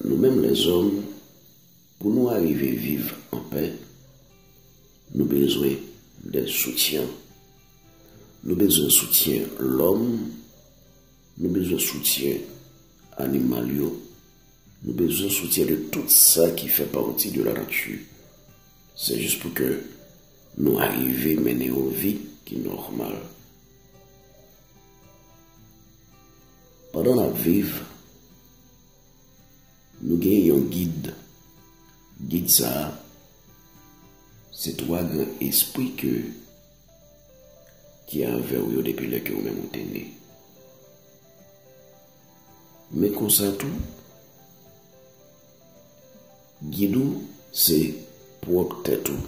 Nou menm lèzòm, pou nou arive viv anpè, nou bezwen de soutyen. Nou bezwen soutyen lòm, nou bezwen soutyen animal yo, nou bezwen soutyen de tout sa ki fè pati de lanati. Se jis pou ke nou arive mennen yon vi ki nòmal. Pandan n ap viv, nou gen yon gid. Gid sa a, se twa gran espri ke ki avè w yo depi lè ke ou menm ou te ne. Men konsa tou, gid ou se pwòp tèt ou.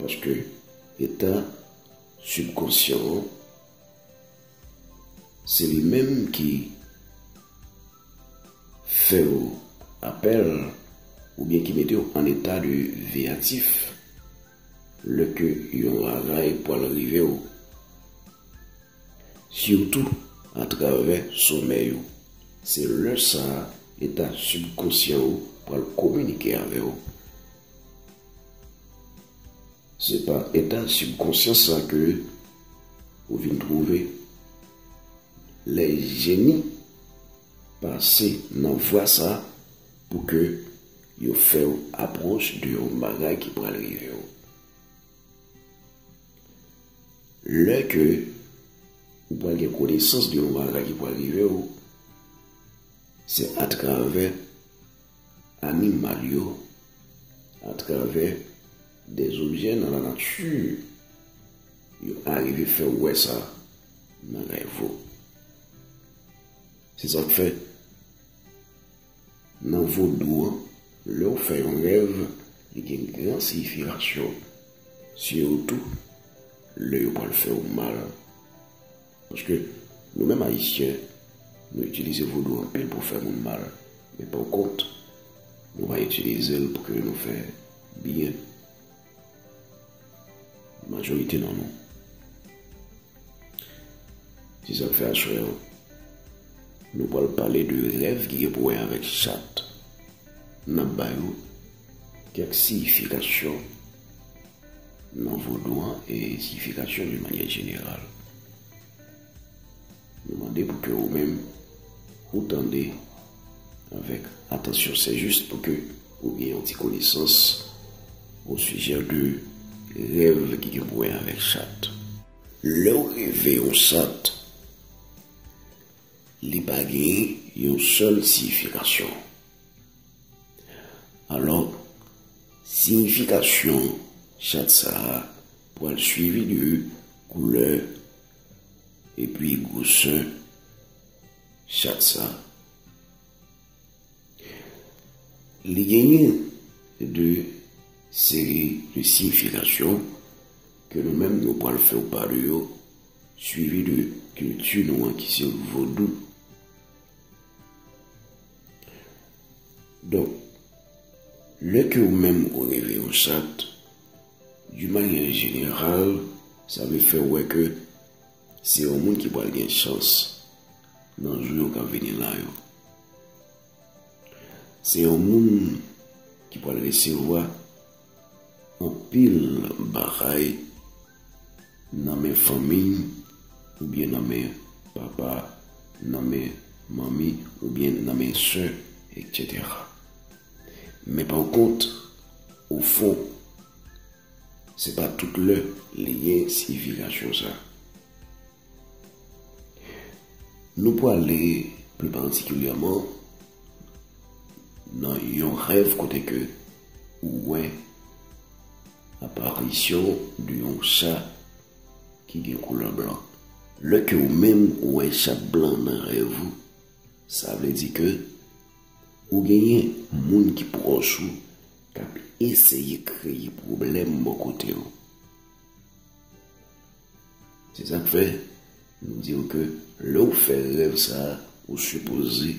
Paske etan. Sibkonsyan an, se li menm ki fè w apèl oubyen ki mete w an eta de veyatif lè ke yon ravay pwal rive w, sitou atravè somèy ou. Se lè sa a eta sibkonsyan ou pwal kominike avè w. Se pa eta sibkonsyans sa ke ou vin twouve. Lè jeni pase nan vwa sa pou ke yo fè ou apwoch de yon bagay ki pral rive ou. Lè ke ou pral gen konesans de yon bagay ki pral rive ou, se atravè. animal yo atravè de objè nan lanati yo arive fè ou wè sa nan rèv ou. Se sa k fè nan vodou an lè ou fè yon rèv li gen gran siyifikasyon sitou lè yo pral fè ou mal. Paske nou menm ayisyen nou itilize vodou anpil pou fè moun mal men pou kont nou pa itilize l pou ke nou fè byen majorite nan nou. Se sak fè aswè an nou pral pale de rèv ki gen pou wè avèk chat. Nap ba yo kèk siyifikasyon. Nan vodou an e siyifikasyon doun manyè jeneral. Nou mande pou ke ou menm ou tande avèk atansyon se jis pou ke ou gen yon ti konesans o sijè de rèv ki gen pou wè avèk chat. Lè ou reve yon chat, li pa gen yon sèl siyifikasyon. Alò, siyifikasyon chat sa a pral swivi de koulè epi gwosè chat sa a. Li genyen de seri de siyifikasyon ke nou menm nou pral fè w pa de yo swivi de kilti nou an ki se vodou. Donk, lè ke ou menm ou reve yon chat, di manyè jeneral, sa vle fè ou wè ke se yon moun ki pral gen chans nan jou yo k ap vini la yo. Se yon moun ki pral resevwa. Anpil bagay nan men fanmi oubyen nan men papa, nan men manmi oubyen nan men sè etc. Men pa kont ofon se pa tout lè li gen siyifikasyon sa. Nou pwale pli patikilyèman nan yon rèv kote ke ou wè aparisyon de yon sa ki gen koulè blan. Lè ke ou menm ou wè sa blan nan rèv ou, sa vle di ke ou genyen moun ki pwòch ou kap eseye kreye pwoblèm bò kote ou. Se sak fè nou diw ke lè ou fè rèv sa ou sipoze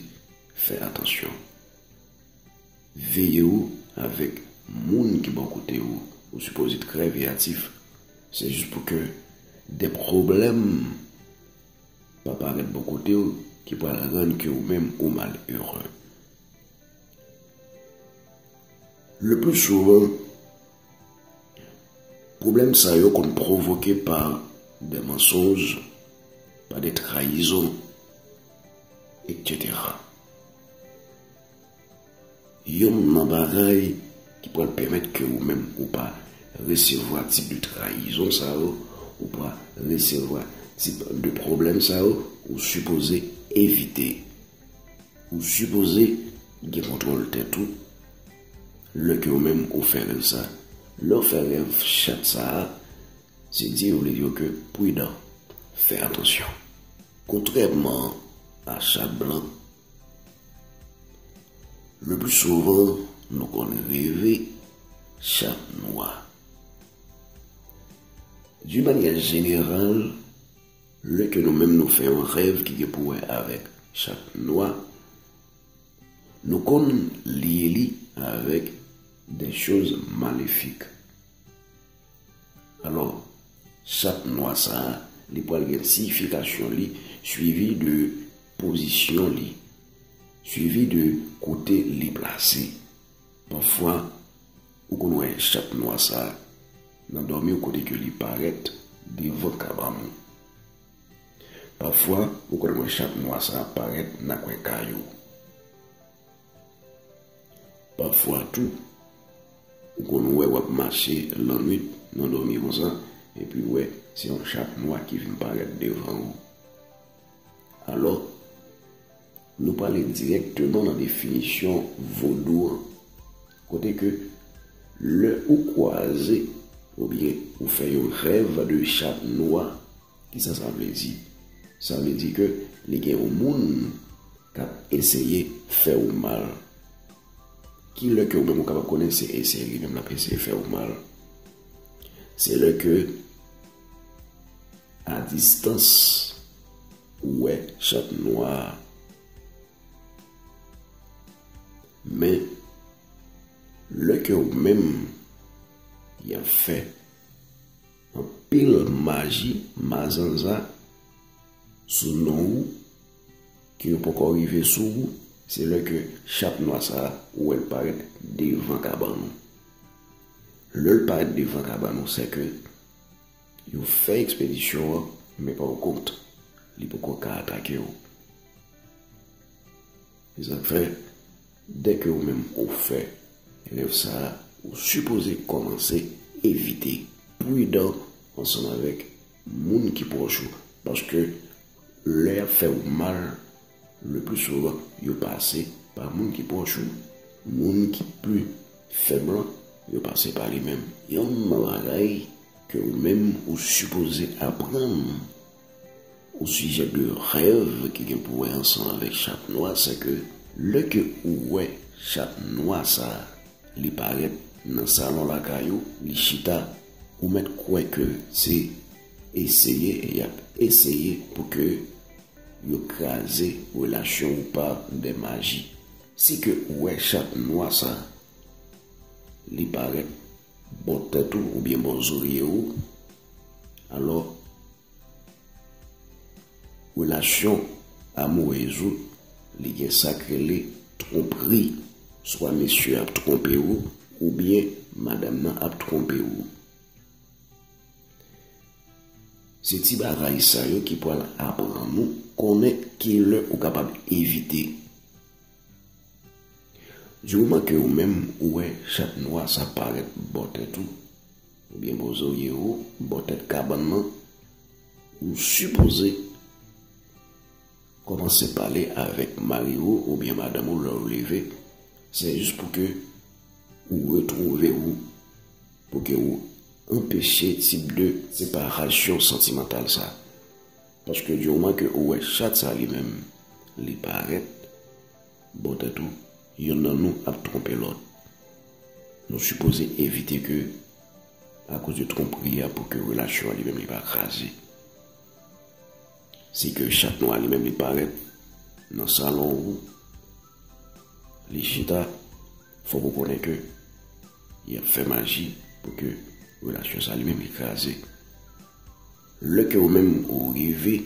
fè atansyon. Veye ou avèk moun ki bò kote ou, ou sipoze trè veyatif. Se jis pou ke de pwoblèm pa parèt bò kote ou ki pral rann ke ou menm ou mal ere. Le pli souvan. Pwoblèm sa yo konn pwovoke pa de mansonj, pa de trayizon, etc. Yon nan bagay ki pral pèmèt ke ou menm ou pa resevwa tip de trayizon sa yo, ou pa resevwa tip de pwoblèm sa yo, ou sipoze evite. Ou sipoze gen kontwòl tèt ou. Lè ke ou menm ou fè rèv sa. Lè ou fè rèv chat sa a, se di ou vle di yo ke pridan, fè atansyon. Kontrèman a chat blan, le pli souvan nou konn reve chat nwa. Di manyè jeneral, lè ke nou menm nou fè yon rèv ki gen pou wè avèk chat nwa, Nou konn lye li avèk des choses maléfiques. Alò, sak nwa sa a, li pral gen siyifikasyon li swivi de pozisyon li, swivi de kote li plase. Pafwa, ou konn wè chat nwa sa a nan dòmi w kote ke li parèt devan kabann ou. Pafwa ou konn wè chat nwa sa ap parèt nan kwen kay ou. Pafwa tou, ou konn wè w ap mache lannwit nan dòmi konsa epi w wè se yon chat nwa ki vin parèt devan ou. Alò. Nou prale dirèkteman nan definisyon vodou an, kote ke lè ou kwaze oubyen ou fè yon rèv de chat nwa, kisa sa vle di? Sa vle di ke li gen yon moun k ap eseye fè ou mal. Ki lè ke ou menm ou kapab konnen se eseye li menm l ap eseye fè ou mal? Se lè ke a distans Ou wè chat nwa a. Men, lè ke ou menm yan fè anpil maji, mazanza sou non ou, ke yo poko rive sou ou, se lè ke chat nwa sa a, ou wè l parèt devan kabann ou. Lè l parèt devan kabann ou, se ke Yo fè ekspedisyon an, men pa w kont, li poko ka atake w. Se sa k fè, dèke ou menm ou fè rèv sa a, ou sipoze kòmanse evite, pridan ansanm avèk moun ki pwòch ou, paske. Lè yap fè ou mal, le plus souvent yo pase pa moun ki pwòch ou. Moun ki pi fèb lan, yo pase pa li menm. Yon bagay ke ou menm ou sipoze aprann osijè de rèv ki gen pou wè ansanm avèk chat nwa se ke lè ke ou wè chat nwa sa li parèt nan salon lakay ou, li chita, ou mèt kwè ke se. Eseye e yap eseye pou ke yo kraze relasyon ou par de maji. Si ke ou wè chat nwa sa li parèt bò tèt ou oubyen bò zorye ou, alò relasyon amourez ou li gen sak rele twonpri, swa mesye ap twonpe ou oubyen madam nan ap twonpe ou. Se ti bagay sa yo ki pral aprann ou konnen ki lè ou kapab evite. Du moman ke ou menm ou wè chat nwa sa parèt bò tèt ou, oubyen bò zorye ou, bò tèt kabann nan, ou sipoze kòmanse pale avèk mari ou oubyen madanm ou lè ou leve, se jis pou ke ou retwouve ou. Pou ke ou anpeche tip de separasyon santimantal sa. Paske di moman ke ou wè chat sa li menm li parèt bò tèt ou, yonn nan nou ap twonpe lòt. Nou sipoze evite ke akoz de twonpri a pou ke relasyon an li menm li pa kraze. Si ke chat nwa li menm li parèt nan salon ou, li chita. Fok ou konnen ke yap fè maji pou ke relasyon sa li menm li kraze. Lè ke ou menm ou rive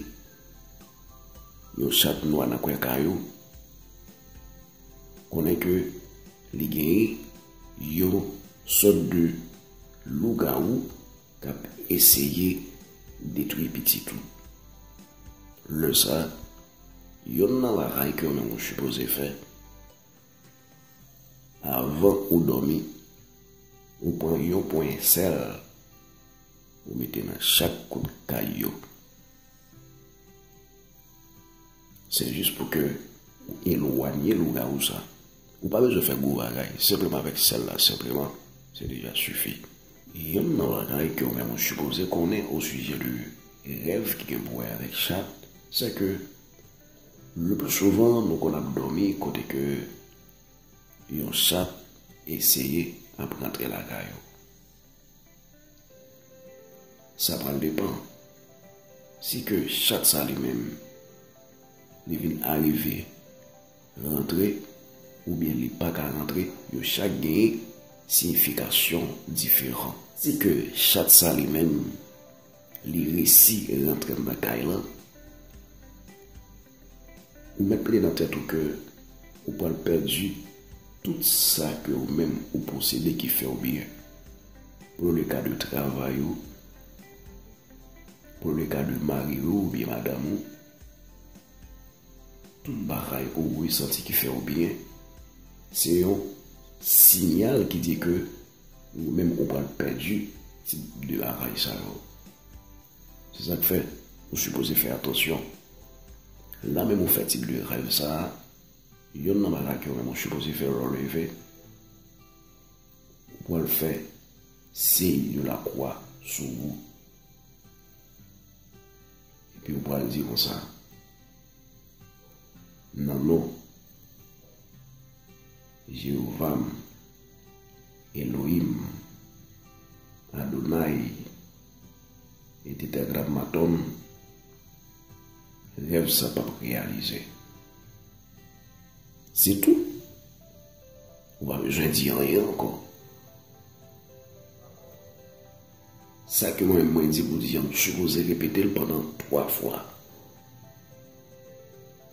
yon chat nwa nan kwen kay ou, konnen ke li genyen yon sot de lougawou kap eseye detwi pitit ou. Lè sa, yonn nan bagay ke ou menm ou sipoze fè. Avan ou dòmi, ou pran yon ponyen sèl ou mete nan chak kout kay yo. Se jis pou ke ou elwanye lougawou sa. Ou pa bezwen fè gwo bagay, senpleman avèk sèl la senpleman, se deja sifi. Yonn nan bagay ke ou menm ou sipoze konnen osijè de rèv ki gen pou wè avèk chat, sè ke Le plus souvent nou konn ap dòmi kote ke yon sat eseye ap rantre lakay ou. Sa pral depan si ke sat sa li menm li vin arive rantre oubyen li pa ka rantre yo chak gen siyifikasyon diferan. Si ke sat sa li menm. Li resi rantrem nan kay lan. Ou met mete nan tet ou ke ou pral perdi tout sa ke ou menm ou posede ki few byen. Pou le ka de travay ou, pou le ka de mari ou oubyen madam ou, tout bagay ou resanti ki few byen, se yon sinyal ki di ke. Ou menm ou pral pèdi tip de lavay sa yo. Se sa k fè ou sipoze fè atansyon. Lè menm ou fè tip de rèv sa, yonn nan bagay ke ou menm ou sipoze fè lè ou leve, ou pral fè siy de lakwa sou ou. Epi ou pral di konsa, Nan non. Jewova m, Elohim m, Adonaï e Tetagrammaton rèv sa p ap reyalize. Se tou, ou pa bezwen di anyen ankò. Sa ke mwen mwen di pou di an, m sipoze repete l pandan 3 fwa.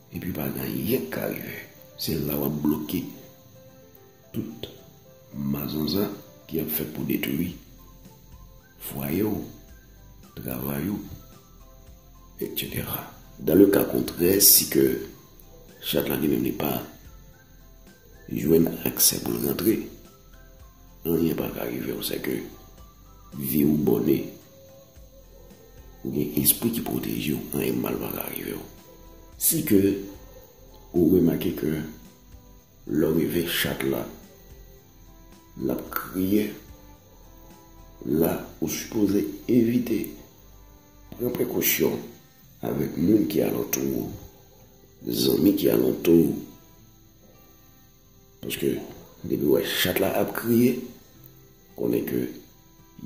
Epi pa gen anyen k ka rive. Se la w ap bloke tout mazanzan ki ap fèt pou detwi fwaye w, travay ou, etc. Dan le ka kontrè, si ke chat la li menm li pa Jwenn aksè pou l rantre. Anyen pa ka rive w sèke vi w bòne. Ou gen espri ki pwoteje w anyen mal pa ka rive w. Si ke ou remake ke lè w rive chat la l ap kriye la ou sipoze evite pran prekosyon avèk moun ki alantou w. Zanmi ki alantou ou. Paske depi wè chat la ap kriye, konnen ke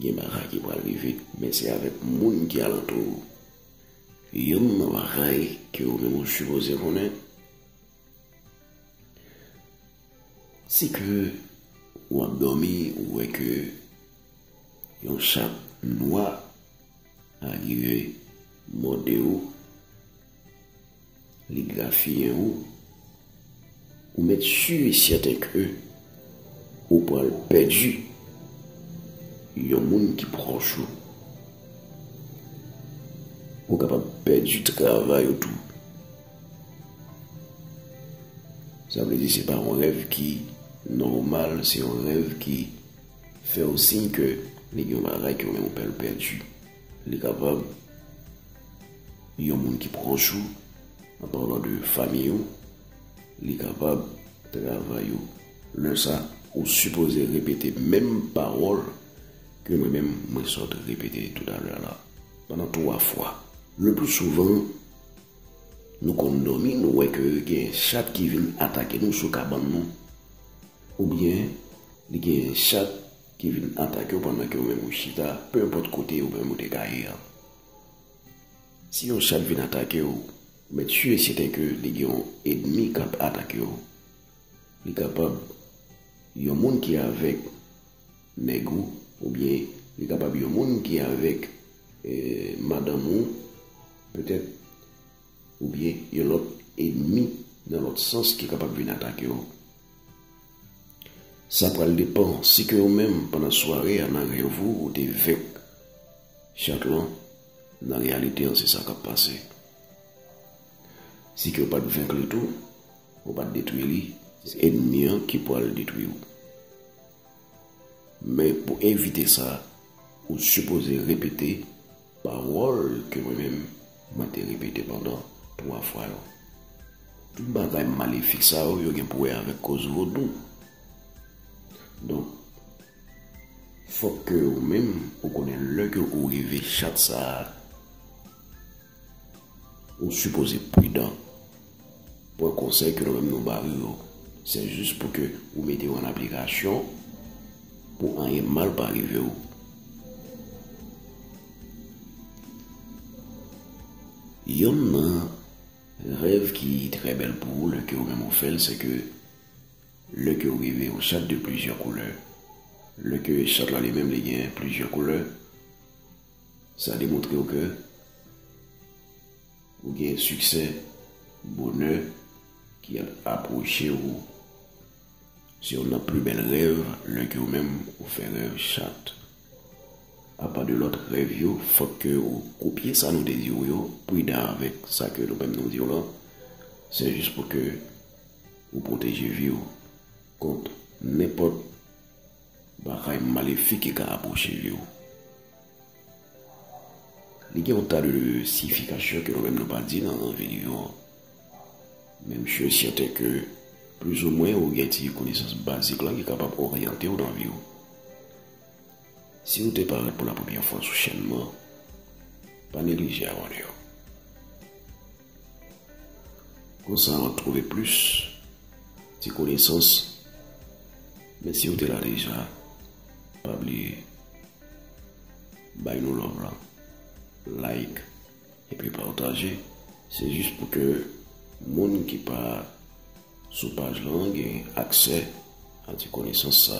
gen bagay ki pral rive. Men se avèk moun ki alantou ou. Youn nan bagay ke ou menm ou sipoze konnen, se ke ou ap dòmi ou wè ke yon chat nwa arive mòde ou. Li grafiyen ou, ou mèt sur et certain ke ou pral pèdi yon moun ki pwòch ou. Ou kapab pèdi travay ou tou. Sa vle di se pa yon rèv ki nòmal, se yon rèv ki fè ou siy ke li gen yon bagay ke ou menm ou pral pèdi. Li kapab yon moun ki pwòch ou, an palan de fanmiy ou, li kapab travay ou. Lè sa, ou sipoze repete menm pawòl ke mwen menm mwen sot repete toutalè la, pandan 3 fwa. Le pli souvan, nou konn dòmi, nou wè ke gen chat ki vin atake nou sou kabann nou, oubyen li gen chat ki vin atake w pandan ke ou menm ou chita, peu importe kote ou menm ou te ka ye an. Si yon chat vin atake w, ou mèt sûr et certain ke li gen yon edmi kap atake w. Li kapab yon moun ki avèk nèg ou oubyen li kapab yon moun ki avèk madanm ou petèt oubyen yon lòt edmi nan lòt sans ki kapab vin atake w. Sa pral depan si ke ou menm pandan sware a nan rèv ou ou te venk chat lan, nan reyalite an se sa kap pase. Si ke ou pat venk li tou, ou pat detwi li, se ènmi an ki pral detwi ou. Men pou evite sa, ou sipoze repete. Pawòl ke mwen menm, mwen te repete pandan twa fwa yo. Tout bagay malefik sa yo, yo gen pou wè avèk kòz vodou. Donk, fòk ke ou menm, ou konnen lè ke ou rive chat sa a, ou sipoze pridan. Bon konsèy ke nou menm nou bayo yo, se jis pou ke ou mete yo an aplikasyon pou anyen mal pa rive ou. Yonn nan rèv ki trè bèl pou ou lè ke ou menm ou fèl, se ke lè ke ou rive yon chat de plizyè koulè, lè ke chat la li menm li gen plizyè koulè, sa demontre ou ke Ou gen siksè, bonè ki ap apwoche ou. Se youn nan pli bèl rèv lè ke ou menm ou fè rèv chat. A pa de lòt rèv yo, fòk ke ou kopye sa nou te di ou yo, pridan avèk sa ke nou menm nou di ou lan. Se jis pou ke ou pwoteje vi ou kont nenpòt bagay malefik ki ka apwoche vi ou. Li gen yon tas de siyifikasyon ke nou menm nou pa di nan videyo an. Men m sure e sèten ke plizoumwen ou gen ti konesans bazik la ki kapab oryante ou nan vi ou. Si ou te parèt pou la premyè fwa sou chèn mwen, pa neglije abòne yo. Konsa wap trouve plis ti konesans men si ou te la deja pa bliye bay nou love lan like epi pataje se jis pou ke moun ki pa sou paj lan gen aksè a ti konesans sa.